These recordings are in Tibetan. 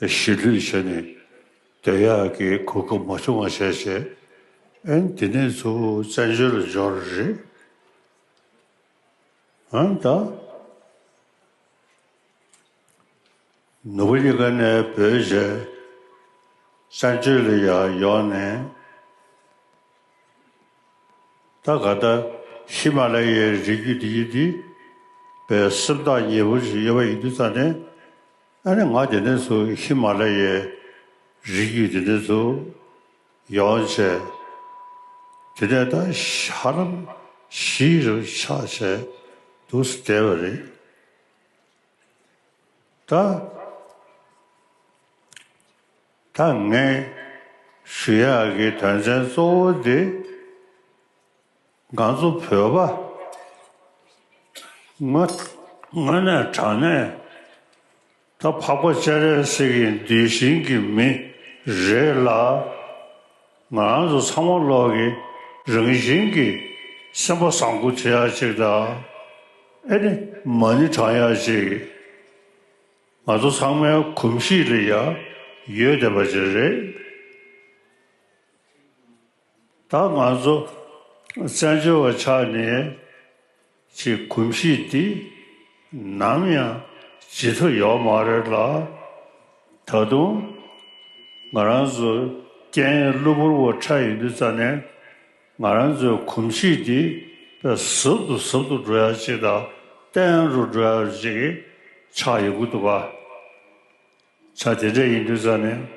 གཞིས་ལུས་བྱས་ནས་དོལ་ཡག་གི་གོ་སྐབས་མ་བྱུང་བ་བྱས་བྱས་ཨན་དེ་ནས་ཚུར་བཙན་བྱོལ་ལ་འབྱོར་རེད་ཨན་ད། ནུ་བོ་གཉིས་ཀ་ནས་བོད་བྱས་བཙན་བྱོལ་ལ་ཡག་ཡོང་ནས་ད་ག་ད་ཧི་མ་ལ་ཡའི་རི་རྒྱུད་འདི་ཡི་འདི་བའི་སེམས་ཐག་ཉེ་པོ་ཞིག་ཡོད་པ་ཡིན་དུས་ད་ནས། ཨ་རེ་ང་དེ་ནས་ཚུ་ཧི་མ་ལ་ཡའི་རི་རྒྱུད་དེ་ནས་ཚུ་ཡོང་བྱས། དེ་ནས་ད་ཧ་ལམ་བཞི་རུ་ཆགས་བྱས་འདུག་བསྡད་པ་རེད། ད་ད་ངས་ཞུ་ཡག་གི་དོན་ཚན་གཙོ་བོ་དེ། སྒང་གཙོ་བོད་པ། དངོས་གནས་དྲང་གནས་ད་འཕགས་པ་ཅཱ་རེ་སི་གི་འདུལ་ཞིང་གི་མི་རེད་ལ། ང་རང་ཚོ་ཚང་མ་ལོག་གི་རང་བཞིན་གི་སེམས་པ་བཟང་པོ་དེ་ཡག་ཅིག་དང་ཨེ་ནི་མ་ནི་དྲང་ཡག་ཅིག་ང་ཚོ་ཚང་མའི་གོམས་གཤིས་ལ་ཡག་ཡོད་བསྡད་པ་དེ་རེད། ད་ང་ཚོ་བཙན་བྱོལ་བ་ཆགས་ནས་ཀྱི་གོམས་གཤིས་འདི་ནམ་ཡང་ཇི་ཐོ་ཡོག་མ་རེད་ལ། ད་དུང་ང་རང་ཚོ་སྐད་ཡིག་གློ་བུར་བོ་ཁྲ་ཡིན་དུས་རྩ་ནས་ང་རང་ཚོའི་གོམས་གཤིས་འདི་ཟབ་ཏུ་ཟབ་ཏུ་འགྲོ་ཡག་ཅིག་དང་བརྟན་རུ་འགྲོ་ཡག་ཅིག་ཆགས་ཡོད་གི་འདུག་ག། ཆ་དེ་འདྲ་ཡིན་དུས་རྩ་ནས།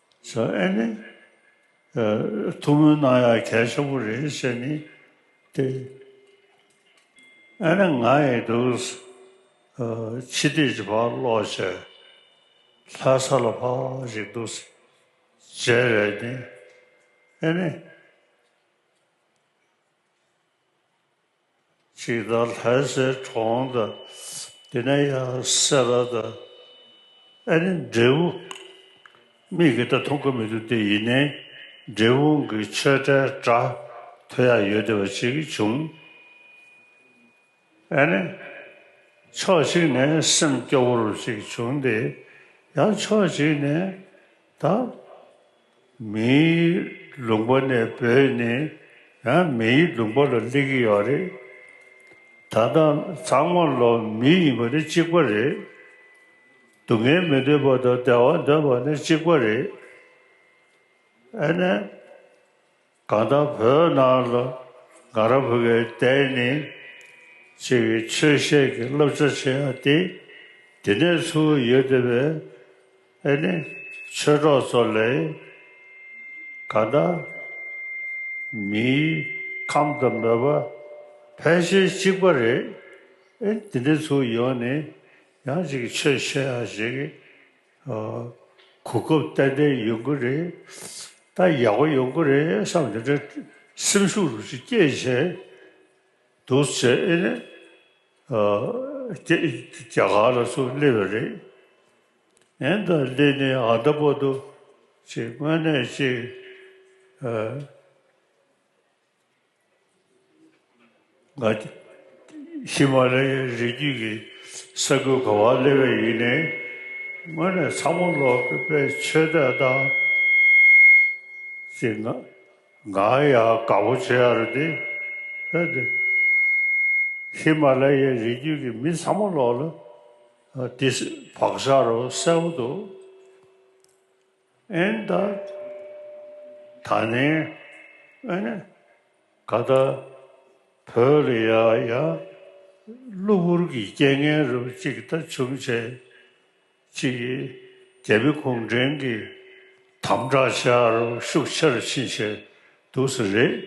བྱ་ཨེ་ནི། ཐུགས་སྨོན་གནང་ཡག་གལ་ཆེན་པོ་རེད་ཟེར་ནི་ཏེ། ཨེ་ནི་ང་ཡི་འདུག། ཕྱི་བལྟས་ཀྱི་བར་ཀློག་བྱས། ལྷ་ས་ལ་ཕ་ཞིག་འདུག། རྗེ་རེད་ནི། ཨེ་ནི། ཅིག་དང་ལྷའི་སའི་གྲོང་དང། དེ་ནས་ཡང་སེ་ར་དང། ཨེ་ནི་འབྲས་བུ་མིག་གིས་ད་དུང་གོ་མི་ཐུབ་དེ་ཡིན་ནི། འབྲས་བུ་གི་ཆོས་བྲལ་སྒྲ་ཐོས་ཡ་ཡོད་དེ་བ་ཅིག་བྱུང། ཨེ་ནི། ཕྱོགས་གཅིག་ནས་སེམས་སྐྱོ་བོར་བ་ཅིག་བྱུང་སྟེ། ཡང་ཕྱོགས་གཅིག་ནས་དང། མིའི་ལུང་པ་ནས་བོད་ནི་ཡང་མིའི་ལུང་པ་ལ་སླེབས་ཀྱི་ཡོད་རེད། ད་ལྟ་ཚང་མ་ལོ་མི་ཡིན་པ་ནི་གཅིག་པ་རེད། སྡུག་བསྔལ་མི་འདོད་པ་དང་བདེ་བ་འདོད་པ་ནི་གཅིག་པ་རེད། ཨ་ནེ། གང་དག་བོད་ནང་ལ་གངས་ར་བུ་གའི་གཏེར་ནས་ཕྱེ་བའི་ཆོས་བཤད་ཀྱི་བསླབ་བྱ་ཆེ་ཡང་སྟེ་དེ་ནས་ཚུར་ཡོད་བསྡད་པའི་ཨེ་ནི་ཆོས་གྲོགས་ཚོ་ལས་གང་དག་མིའི་ཁམས་དང་མོས་པ་ཕལ་ཆེར་གཅིག་པ་རེད་ཨེ་དེ་ནས་ཚུར་ཡོང་ནས་ཡང་ཅིག་ཆོས་བཤད་ཡ་ཞེས་གོ་སྐབས་ཏན་ཏན་ཡོང་གི་རེད་ད་ཡག་པོ་ཡོང་གི་རེད་བསམ་དེ་འདྲའི་སེམས་ཤུགས་རུ་ཅིག་སྐྱེད་བྱས་འདུག་བྱས་ཨེ་ནས་རྒྱ་གར་ལ་སུ་སླེབས་པ་རེད་ཨེ་ད་སླེབས་ནས་ཨ་མདའ་པོ་འདུག་ཅེས་དངོས་གནས་ཅིག་ཧི་མ་ལའི་རི་རྒྱུད་ཀྱི་ས་ཁུལ་གོ་བ་སླེབས་པའི་ཡུལ་ནི་སྔོན་ནས་ཚ་མོ་ལོ་པའི་ཆོས་དད་དང་གྱི་ང་ཡ་ག་པོ་ཆེ་ཡར་དེ་ཧེ་དེ་ཧི་མ་ལའི་རི་རྒྱུད་ཀྱི་མི་ཚ་མོ་ལོ་ལ་དེ་བག་ཆགས་རོ་གསལ་བོ་འདུག། ཨན་ད། ད་ནི་ཨ་ནི་ག་ད་བོད་ལ་ཡ་ཡ་གློ་བུར་གྱི་རྐྱེན་ངན་རབ་གཅིག་ད་བྱུང་བྱས་ཅི་ཡི་རྒྱལ་པོའི་གུང་བྲན་གྱི་དམ་དྲག་ཤ་རུ་ཤུགས་ཆེར་ཕྱིན་བྱས་འདུག་ས་རེད།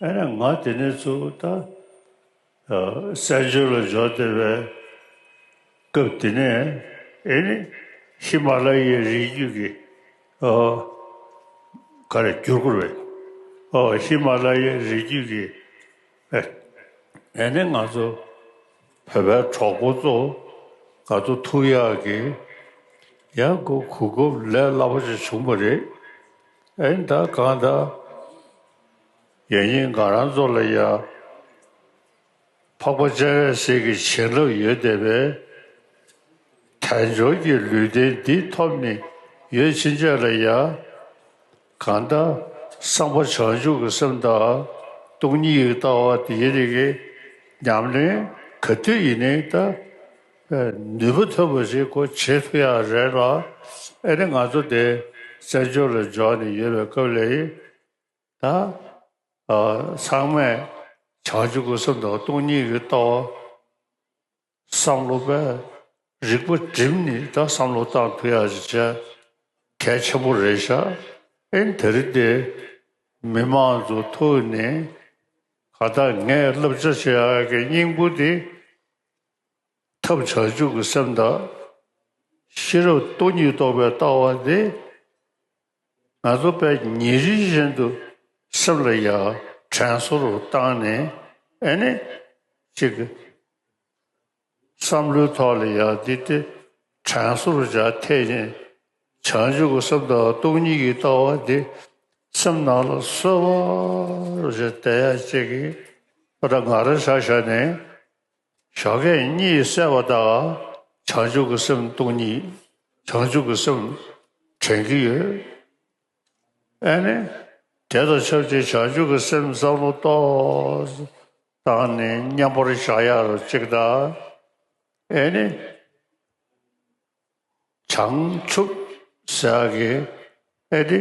ཨ་ནི་ང་དེ་ནས་ཚུར་ད། གསལ་བྱེད་ལ་སྦྱོར་བདེ་བས། སྐབས་འདི་ནས་ཨེ་ནི་ཧི་མ་ལ་ཡའི་རི་རྒྱུད་ཀྱི། ག་རེ་བསྒྱུར་བཀུར་བས། ཧི་མ་ལ་ཡའི་རི་རྒྱུད་ཀྱི། ཨེ་ནི་ང་ཚོ་བོད་པའི་གྲོགས་པོ་ཚོ། ག་ཚོད་ཐུགས་ཡག་གི། ཡང་སྒོ་གུ་སྒོབ་ལས་སླ་པོ་ཅིག་བྱུང་བ་རེད། ཨེ་ནི་ད་གང་ལྟར། ཡང་སྙིང་དགའ་རང་ཚོ་ལ་ཡང་འཕགས་པ་སྤྱན་རས་གཟིགས་ཀྱི་བྱིན་རླབས་ཡོད་བསྡད་པས་དལ་འབྱོར་གྱི་ལུས་རྟེན་འདི་ཐོབ་ནས་ཡོད་ཕྱིན་ཆད་ལ་ཡང་གང་ལྟར་གསང་བ་བྱང་ཆུབ་ཀྱི་སེམས་དང་སྟོང་ཉིད་ཀྱི་ལྟ་བ་འདིའི་རིགས་ཀྱི་ཉམས་ལེན་ག་དུས་ཡིན་ནའི་ད་ནུས་པ་ཐོན་པ་ཞིག་གོ་བྱེད་ཐུག་ཡ་རེད་ལ་ཨེ་ནི་ང་ཚོ་འདི་བཙན་བྱོལ་ལ་འབྱོར་ནས་ཡོད་པའི་སྐབས་ལས་ད་ཚང་མས་བྱང་ཆུབ་ཀྱི་སེམས་དང་སྟོང་ཉིད་ཀྱི་ལྟ་བ་བསམ་བློ་པས་རིག་པ་བསྒྲིམས་ནས་ད་བསམ་བློ་བཏང་ཐུ་ཡག་ཅིག་བྱས་གལ་ཆེན་པོ་རེད་ཤག་ཨིན་དེ་རིང་འདི་མི་མང་ཚོ་ཐུག་ནས་ག་ད་ངས་བསླབ་བྱ་བྱེད་ཡག་གི་སྙིང་པོ་དེ་ཐབས་བྱང་ཆུབ་ཀྱི་སེམས་དང་ཤེས་རབ་སྟོང་ཉིད་རྟོགས་པའི་ལྟ་བ་དེ། ང་ཚོ་པས་ཉིན་རེ་བཞིན་དུ་སེམས་ལ་ཡ་དྲན་བཟོ་རུ་བཏང་ནས་ཨེ་ནས་ཅིག་གི་བསམ་བློའི་ཐོག་ལ་ཡ་འདི་སྟེ་དྲན་བཟོ་རུ་བྱ་འཐད་ཅིང་བྱང་ཆུབ་ཀྱི་སེམས་དང་སྟོང་ཉིད་ཀྱི་ལྟ་བ་འདི་སེམས་ནང་ལ་གསོལ་བ་རུ་བྱ་འཐད་ཡ་ཅིག་གི་ཨ་ར་ང་ར་ཤ་ཤ་ནས། བཞག་གད་སྙིགས་བསལ་བ་དག་བྱང་ཆུབ་ཀྱི་སེམས་སྟོང་ཉིད་བྱང་ཆུབ་ཀྱི་སེམས་དྲན་གྱི་ཡོད། ཨེ་ནི། དེ་དང་ཆབས་ཅིག་བྱང་ཆུབ་ཀྱི་སེམས་བསམ་བློ་གཏོད་སྟངས་ནི་མཉམ་པར་བཞག་ཡ་རུ་གཅིག་གདའ། ཨེ་ནི། བྱང་ཆུབ་ཟེར་གི་ཨེ་ཏེ།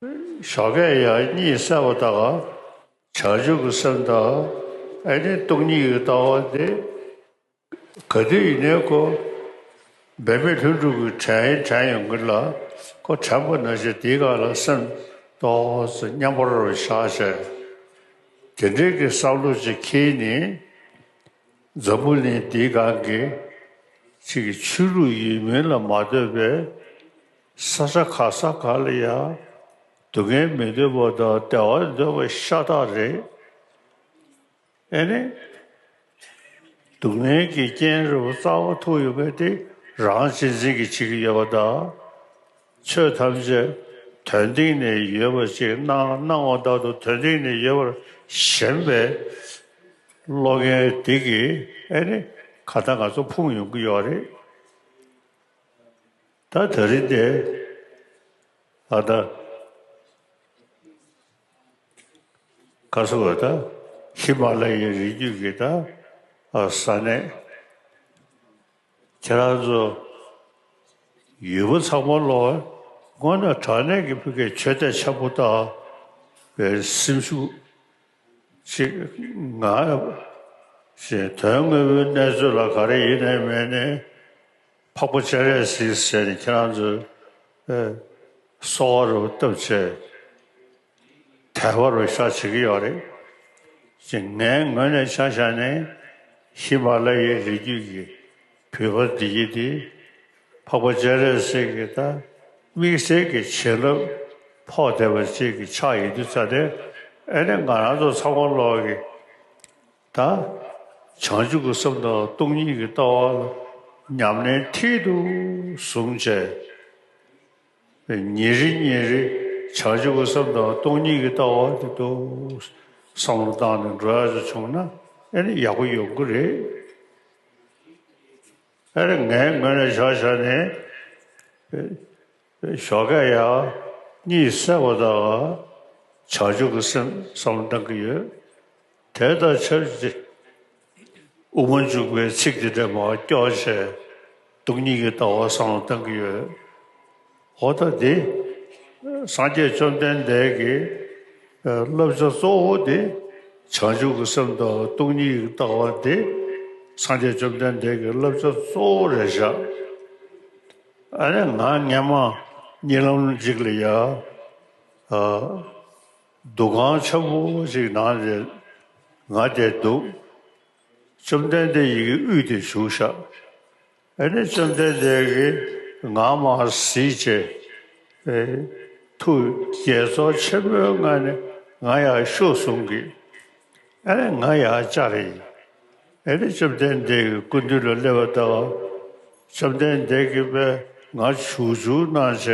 ཞོགས་ཀའི་ཡ་གཉིས་གསལ་བ་དག། བྱང་ཆུབ་ཀྱི་སེམས་དང་ཨེ་ནི་སྟོང་ཉིད་ཀྱི་ལྟ་བ་འདི། ག་དུས་ཡིན་ནའི་ཀོ། འབད་མེད་ལྷུན་གྲུབ་ཀྱི་དྲན་ཡིན་དྲན་ཡོང་གི་ལ་ཀོ་དྲན་པ་ན་ཞེ་འདིའི་ག་ལ་སེམས་རྟོགས་མཉམ་པར་བཞག་བྱས། དེ་འབྲེལ་གྱི་བསམ་བློ་ཅིག་ཁྱེད་ནི། འཛམ་བུ་གླིང་འདིའི་སྒང་གི། ཕྱི་གི་ཆོས་ལུགས་ཡིན་མིན་ལ་མ་ལྟོས་པའི། ས་ཆ་ག་ས་ག་ལ་ཡང་སྡུག་བསྔལ་མི་འདོད་པ་དང་བདེ་བ་འདོད་པ་ཤ་སྟག་རེད། ཨེ་ནས། སྡུག་བསྔལ་གྱི་རྐྱེན་རིལ་བོ་རྩ་བ་ཐུག་ཡོད་པས་དེ་རང་གཅེས་འཛིན་གྱིས་བྱེད་ཀྱི་ཡོད་པ་དང། ཆོས་ཐམས་ཅད་དོན་སྟེང་ནས་ཡོད་པ་ཅིག་སྣང་སྣང་བ་དག་ཏུ་དོན་སྟེང་ནས་ཡོད་པར་ཞེན་པའི་བློ་ངན་དེ་གིས་ཨེ་ནས་ག་ད་ང་ཚོ་ཕུང་ཡོང་གི་ཡོད་རེད། ད་ད་རིན་དེ་ཨ་ད་ག་སོ་བ་ད་ཧི་མ་ལ་ཡའི་རི་རྒྱུད་ཀྱི་ད་ས་གནས་ཁྱེད་རང་ཚོ་ཡུལ་བོ་ཚང་མ་ལོ་སྔོན་ན་དྲག་གནས་ཀྱི་ཕི་གའི་ཆོས་དད་ཆ་པོ་ད་བའི་སེམས་ཤུགས་ཅིག་ང་བཞིན་དོན་དངོས་པོའི་གནས་ཚོད་ལ་ག་རེ་ཡིན་ནས་མེད་ནས། འཕགས་པ་སྤྱན་རས་གཟིགས་ཞེས་ནི་ཁྱེད་རང་ཚོའི་གསོ་བ་རུ་བཏབ་ཆེད་དལ་བ་རུ་བཞག་བྱེད་ཀྱི་ཡོད་རེད་ཅེས་ངའི་ངོས་ནས་ཆ་བཞག་ནས་ཧི་མ་ལ་ཡའི་རི་རྒྱུད་ཀྱི་བུ་ཕར་བདེ་སྐྱིད་དེ་འཕགས་པ་སྤྱན་རས་གཟིགས་ཀྱི་ད་དམིགས་བསལ་གྱི་བྱིན་རླབས་ཕོག་བསྡད་པ་ཅིག་གི་ཕྱག་ཡིན་དུས་ཚ་སྟེ་ཨེ་ནི་ང་རང་ཚོ་ཚ་གོང་ལོག་གི། ད་བྱང་ཆུབ་ཀྱི་སེམས་དང་སྟོང་ཉིད་ཀྱི་ལྟ་བ་ལ་ཉམས་ལེན་མཐིལ་དུ་བཟུང་བྱས་པས་ཉིན་རེ་ཉིན་རེ་བྱང་ཆུབ་ཀྱི་སེམས་དང་སྟོང་ཉིད་ཀྱི་ལྟ་བ་དེ་འདུག་བསམ་བློ་བཏང་ནས་འགྲོ་ཡག་ཅིག་བྱུང་ན་ཨེ་ནི་ཡག་པོ་ཡོང་གི་རེད། ཨེ་རེད་ངའི་ངོས་ནས་བཞག་བཞག་ནས། ཞོགས་ཀ་ཡག། གཉིད་སད་པོ་དང། བྱ་སྤྱོད་ཀྱི་སེམས་བསམ་བཏང་གི་ཡོད། དེ་དང་ཆབས་ཅིག་དབུ་མ་འཇུག་པའི་ཚིག་འདི་འདྲ་མ་སྐྱོགས་བྱས། སྡུག་སྙིང་གི་ལྟ་བ་བསམ་བཏང་གི་ཡོད། ཧོ་ད་དེ། སངས་རྒྱས་བཅོམ་ལྡན་འདས་ཀྱི། བསླབ་བྱ་གཙོ་བོ་དེ། བྱང་ཆུབ་ཀྱི་སེམས་དང་སྡུག་སྙིང་གི་ལྟ་བ་དེ། སངས་རྒྱས་བཅོམ་ལྡན་འདས་ཀྱི་བསླབ་བྱ་གཙོ་བོ་རེད་བཞག། ཨ་རེ་ང་སྙན་མ་གཉིད་ལམ་འཇིགས་ལ་ཡ། འདུ་ཁང་ཆ་བོ་ཞིག་ནང་རེད་ང་བསྡད་འདུག། བཅོམ་ལྡན་འདས་ཡི་གེ་དབུས་དེ་བཞུགས་བཞག། ཨེ་རེ་བཅོམ་ལྡན་འདས་ཀྱིས་ང་མ་གཟིགས་ཅེས། ཐུགས་དགྱེས་ཚོར་ཆེན་པོའི་ངང་ནས་ང་ཡར་ཤུགས་ཟུང་གིས། ཨེ་རེ་ང་ཡར་བཅར་ཡིན། ཨེ་རེ་བཅོམ་ལྡན་འདས་ཀྱི་སྐུ་མདུན་ལ་སླེབ་པ་ལྟར་བཅོམ་ལྡན་འདས་ཀྱིས་པས་ང་བྱུག་བྱུག་གནང་བྱས་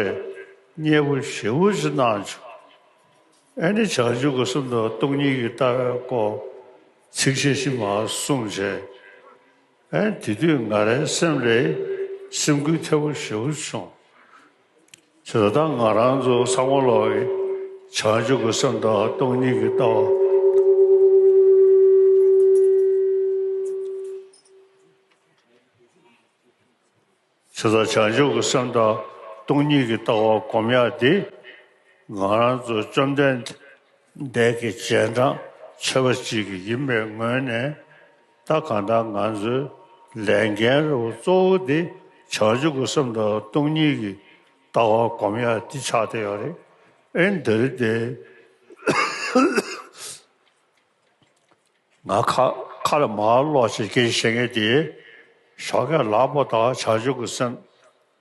མཉེས་པོ་ཞེ་བོ་ཅི་གནང་བྱུང། ཨེ་ནི་བྱང་ཆུབ་ཀྱི་སུམ་མདོ་སྟོང་ཉིད་ཀྱི་ལྟ་བའི་སྐོར་ཚིགས་བཅད་བཞི་མ་གསུངས་བྱས། ཨེ་དེ་དུས་ང་རའི་སེམས་ལས་སེམས་འགུལ་ཐེབས་པོ་ཞེ་བོ་བྱུང། ཚོད་ལྟ་ང་རང་ཚོ་ས་མོ་ལོག་གི་བྱང་ཆུབ་ཀྱི་སེམས་དང་སྟོང་ཉིད་ཀྱི་ལྟ་བ། ཚོད་ལྟ་བྱང་ཆུབ་ཀྱི་སེམས་དང་སྟོང་ཉིད་ཀྱི་ལྟ་བ་གོམས་ཡག་འདི། ང་རང་ཚོ་བཅོམ་ལྡན་འདས་ཀྱི་རྗེས་འབྲང་ཆེ་བ་ཅིག་ཡིན་པའི་ངོས་ནས་ད་གང་ལྟར་ང་ཚོའི་ལས་འགན་རེ་བ་གཙོ་བོ་དེ་བྱང་ཆུབ་ཀྱི་སེམས་དང་སྟོང་ཉིད་ཀྱི་ལྟ་བ་སྒོམ་ཡ་འདི་ཆགས་ཏེ་ཡོད་རེད་ཨེ་འདི་རེད་དེ་ང་ཁ་ཁ་ལ་མར་ལོག་བྱེད་ཀྱི་བྱེད་ངེས་དེ་ཞོགས་ཁས་ལག་པ་དག་བྱང་ཆུབ་ཀྱི་སེམས།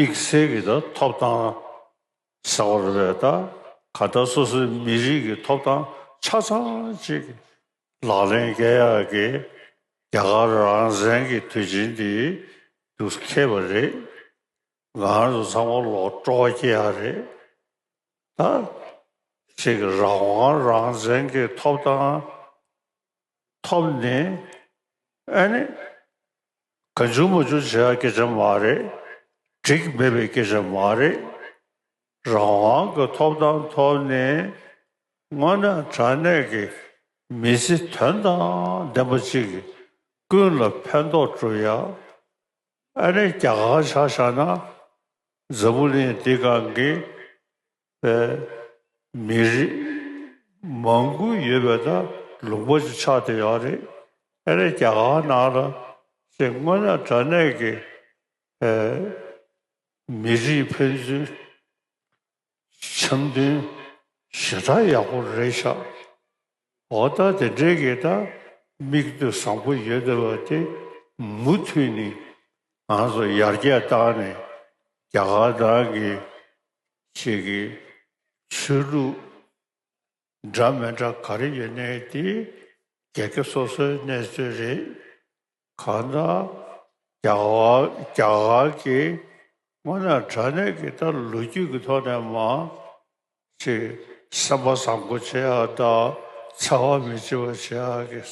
དམིགས་བསལ་གྱི་དང་ཐོབ་ཐང་ཟེར་བ་རེད་པས་ད་ག་ད་སོ་སོའི་མི་རིགས་ཀྱི་ཐོབ་ཐང་ཆ་ཚང་ཅིག་ལག་ལེན་བཀལ་ཡག་གི་རྒྱ་གར་རང་བཟན་གྱི་དུས་ཆེན་འདི་རྒྱུ་ཁེ་བ་རེད་ངང་དུ་ཚང་མ་ལོག་སྤྲོ་བ་སྐྱེ་ཡག་རེད་ད་ཁྱེད་ཀྱི་རང་དབང་རང་བཙན་གྱི་ཐོབ་ཐང་ཐོབ་ནི་ཨ་ནི། གང་བྱུང་མ་བྱུང་བྱ་ཡག་སྐད་ཆ་མ་རེད། འགྲིག་མེད་པའི་སྐད་ཆ་མ་རེད། རང་དབང་གི་ཐོབ་ཐང་ཐོབ་ནས་སྔོན་ན་དྲ་གནས་ཀྱི་མི་ཚེ་དོན་དང་ལྡན་པ་ཅིག་ཀུན་ལ་ཕན་ཐོགས་འགྲོ་ཡག་ཨ་ནེ་རྒྱ་གར་ཆགས་བཞག་ན་འཛམ་བུ་གླིང་འདི་སྒང་གི་པའི་མི་རིགས་མང་དགུ་ཡོད་པའི་ནང་ལུང་པ་ཅིག་ཆགས་བསྡད་ཡོད་རེད། ཨ་རི་རྒྱ་གར་ནང་ལ་ཞེས་སྔོན་ན་དྲ་གནས་ཀྱི་མི་རིགས་ཕན་ཚུན་འཆམ་མཐུན་ཞེ་དྲག་ཡག་པོ་རེད་ཤག་འོ་ད་དེ་འདྲའི་དགེ་དག་མིག་ལྟོས་བཟང་པོ་ཡོད་བསྡད་པ་དེ་མུ་མཐུད་ནས་ང་ཚོ་ཡར་རྒྱས་བཏང་ནས་རྒྱ་གར་ནང་གི་ཆེད་ཀྱི་ཆོས་ལུགས་འདྲ་མི་འདྲ་ག་རེ་ཡོད་ནའི་དེ་རྒྱལ་ཁབ་སོ་སོའི་གནས་ཚུལ་རེད། གང་ན་རྒྱ་གར་གྱིས་སྔོན་ལ་དྲ་གནས་ཀྱི་ལྟར་ལོ་རྒྱུས་ཀྱི་ཐོག་ནས་མ་ཕྱེ་སེམས་པ་བཟང་པོ་བྱེད་ཡག་དང་འཚེ་བ་མི་བྱེད་པ་བྱེད་ཡག་གི་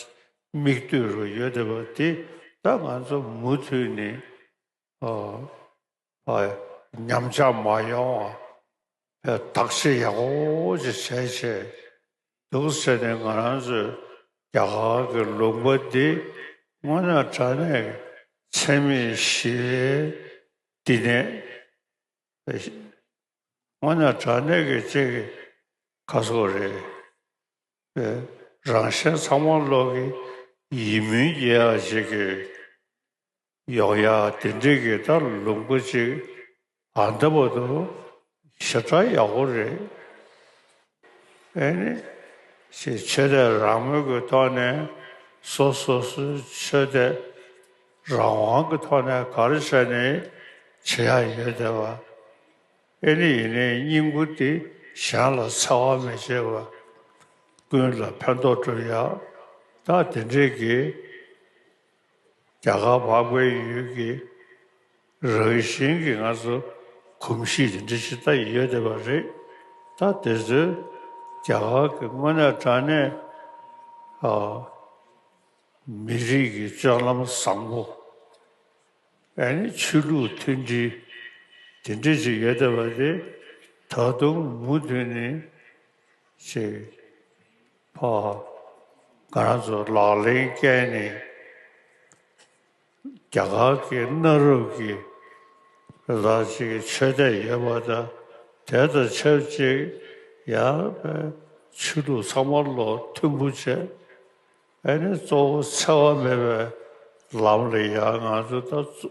མིག་ལྟོས་རུ་ཡོད་བསྡད་པ་འདི་ད་ང་ཚོ་མུ་མཐུད་ནས་ཉམས་ཆག་མ་ཡོང་བ་བདག་གཅེས་ཡག་པོ་ཅིག་བྱེད་ཆེད་དུ་ཟེར་ནས་ང་རང་ཚོའི་རྒྱ་གར་གྱི་ལུང་པ་འདི་སྔོན་ན་དྲ་གནས་ཀྱི་འཚེ་མེད་ཞི་བའི་བསྟི་གནས། སྔོན་ན་དྲ་གནས་ཀྱི་ཅེས་ཀྱི་ཁ་གསོ་རེད་པས་རང་གཞན་ཚང་མ་བློ་གི་ཡིད་སྨོན་སྐྱེ་ཡག་ཅིག་གིས། གཡོག་ཡ་དེ་འདྲས་ཀྱི་ད་ལུག་མགོ་གཅིག་ཨ་མདའ་པོ་འདུག་ཞེ་དྲག་ཡག་པོ་རེད་ཨེ་ནི། ཞེས་ཆོས་དད་རང་མོས་ཀྱི་ཐོག་ནས་སོ་སོ་སོའི་ཆོས་དད་རང་དབང་གི་ཐོག་ནས་གར་བྱས་ནས་བྱེད་ཡ་ཡོད་བསྡད་པ་ཨེ་ནི་ཡིན་ནའི་སྙིང་པོ་འདི་གཞན་ལ་འཚེ་བ་མི་བྱེད་པ་ཀུན་ལ་ཕན་ཐོག་འགྲོ་ཡག་ད་དེ་འདྲས་ཀྱི། རྒྱ་གར་འཕགས་པའི་ཡུལ་གྱི་རང་བཞིན་གྱི་ང་ཚོ་གོམས་གཤིས་དེ་འདྲ་ཞིག་ད་ཡིན་ཡོད་བསྡད་པ་རེད། ད་དེ་ཚོས་རྒྱ་གར་གྱི་དངོས་གནས་དྲ་གནས་མི་རིགས་ཀྱི་སྤྱོད་ལམ་བཟང་པོ་ཨེ་ནི་ཆོས་ལུགས་མཐུན་སྒྲིལ་དེ་འདྲ་ཞིག་ཡོད་བསྡད་པ་དེ་ད་དུང་མུ་མཐུད་ནས་ཆེ། ཕོ་སྒང་དུ་ལག་ལེན་བསྐྱལ་ནས་རྒྱ་གར་གྱི་གནའ་རབས་ཀྱི་ལག་རྗེས་ཀྱི་ཆོས་དད་ཡོད་པ་དང་དེ་དང་ཆབས་ཅིག་ཡངས་པའི་ཆོས་ལུགས་ཚང་མ་བློ་མཐུན་པོ་བྱས། ཨ་ནི་གཙོ་བོ་འཚེ་བ་མེད་པའི་ལམ་ལ་ཡ་ང་དུ་ད་གཙོ།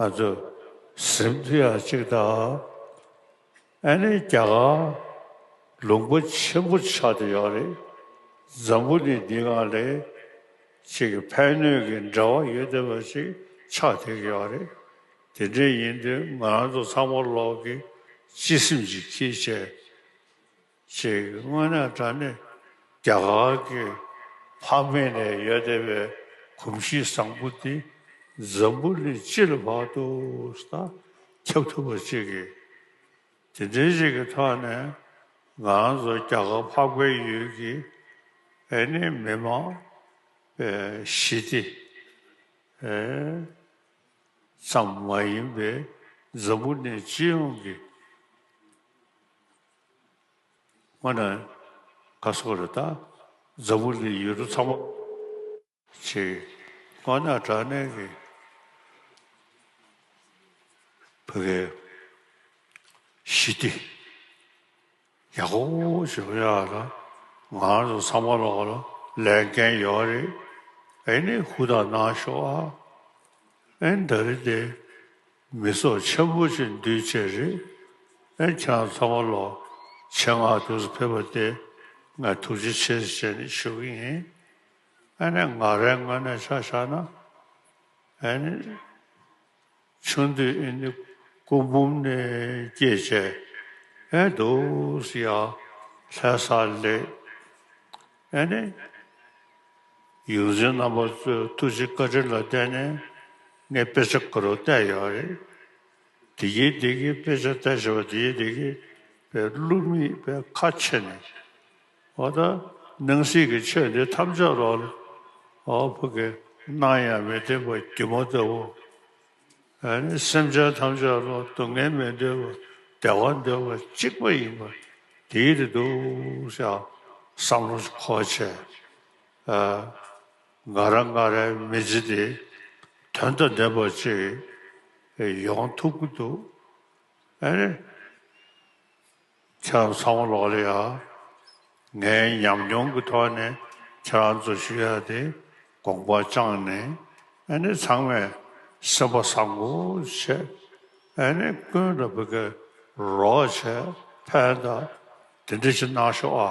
ང་ཚོ་གཟིམ་ཐུ་ཡག་ཅིག་ད་ཨ་ནི་རྒྱ་གར་ལུང་པ་ཆེན་པོ་ཆགས་ཏེ་ཡོད་རེད་འཛམ་བུ་ནི་འདི་སྔ་ལས་ཅིག་གི་ཕན་གནོད་ཀྱི་འབྲེལ་བ་ཡོད་བསྡད་པ་ཞིག་ཆགས་ཐེ་གི་ཡོད་རེད་དེ་འདྲས་ཡིན་དུས་ང་རང་ཚོ་ཚང་མ་ལོག་གི་སྤྱི་སེམས་ཀྱི་ཁྱི་བྱས། ཞིག་དངོས་གནས་ད་ནི་རྒྱ་གར་གྱི་ཕག་མེད་ནས་ཡོད་བསྡད་པའི་གོམས་གཤིས་བཟང་པོ་འདི་འཛམ་བུ་གླིང་སྤྱི་ལ་བར་དུ་དང་ཁྱབ་ཐུབ་པ་ཅིག་གིས། དེ་འདྲའི་ཞིག་གི་ཐོག་ནས་ང་རང་ཚོ་རྒྱ་གར་འཕགས་པའི་ཡུལ་གྱི་ཨེ་ནི་མི་མང་པའི་ཞི་བདེ་ཙམ་མ་ཡིན་པའི་འཛམ་བུ་གླིང་སྤྱི་ཡོངས་ཀྱི། ང་ནི་ག་སོག་རེད་ད། འཛམ་བུ་གླིང་ཡུལ་གྲུ་ཚང་མ། ཆེ། ང་ནི་དྲག་གནས་ཀྱི། བུ་གའི། ཞི་བདེ། ཡག་པོ་བྱེད་པ་ཡག་ལ། ང་རང་ཚོ་ཚང་མ་ལ་ལ་ལས་འགན་ཡོད་པ་རེད། ཨེ་ནི་ཧུ་ད་གནང་ཤོག་ཨ། ཨེ་འདི་རེད་དེ། མི་སོགས་ཆེན་པོ་གཅིག་འདུས་བཅས་རེད། ཨེ་ཆང་ཚང་མ་ལོ་ཆེན་སྔ་དུས་སུ་ཕེབས་པ་སྟེ་ང་ཐུགས་རྗེ་ཆེ་ཞེས་བྱས་ནས་ཞུ་གི་ཡིན། ཨེ་ནས་ང་རའི་སྔོན་ནས་ཆ་བཞག་ན། ཨེ་ནས་ཆུང་དུས་ཨེ་ནས་སྐུ་འབུམ་ནས་སྐྱེས་བཅས་ཨེ་འདུག་ཡ། ལྷས་ས་ལེགས། ཨེ་ནི། ཡུལ་འཛིན་རྣམ་པ་ཚོའི་ཐུགས་རྗེ་བཀའ་དྲིན་ལ་བརྟེན་ནས་ངས་དཔེ་ཆ་འགའ་རེ་བལྟས་ཡོད་རེད། དེ་རྒྱའི་སྡེ་དགེའི་དཔེ་ཆ་བལྟས་ཞེས་པ་དེའི་སྡེ་དགེ་པའི་བླུགས་མི་པའི་ཁ་ཕྱེ་ནས། ཨོ་ད་སྣང་སྲིད་ཀྱི་ཆོས་འདི་ཐམས་ཅད་རོལ། ཨོ་ཕ་གི་སྣང་ཡང་མི་བདེན་པ་སྒྱུ་མ་ལྟ་བུ། སེམས་ཅན་ཐམས་ཅད་ལ་སྡུག་བསྔལ་མི་འདོད་པར་བདེ་བ་འདོད་པ་གཅིག་པ་ཡིན་པ་དེའི་རེ་འདུག་བསམ་བློ་འཁོར་བྱས། ང་ར་ང་རའི་མི་ཚེ་འདི་དོན་དང་ལྡན་པ་ཅིག་ཡོང་ཐུབ་ཀྱི་འདུག། ཆ་ཚང་མ་ལོག་ལེ་ཡ། ངའི་ཉམས་མྱོང་གི་ཐོག་ནས་ཁྱེད་རང་ཚོ་ཞུ་ཡ་དེ་དགོངས་པ་བཅངས་ནས་ཨ་ནི་ཚང་མས་སེམས་པ་བཟང་པོ་བྱས་ཨ་ནི་ཀུན་ལ་བོད་སྐད་རོགས་བྱས་ཕན་ད་དེ་འདྲ་ཞིག་གནང་ཤོག་ཨ།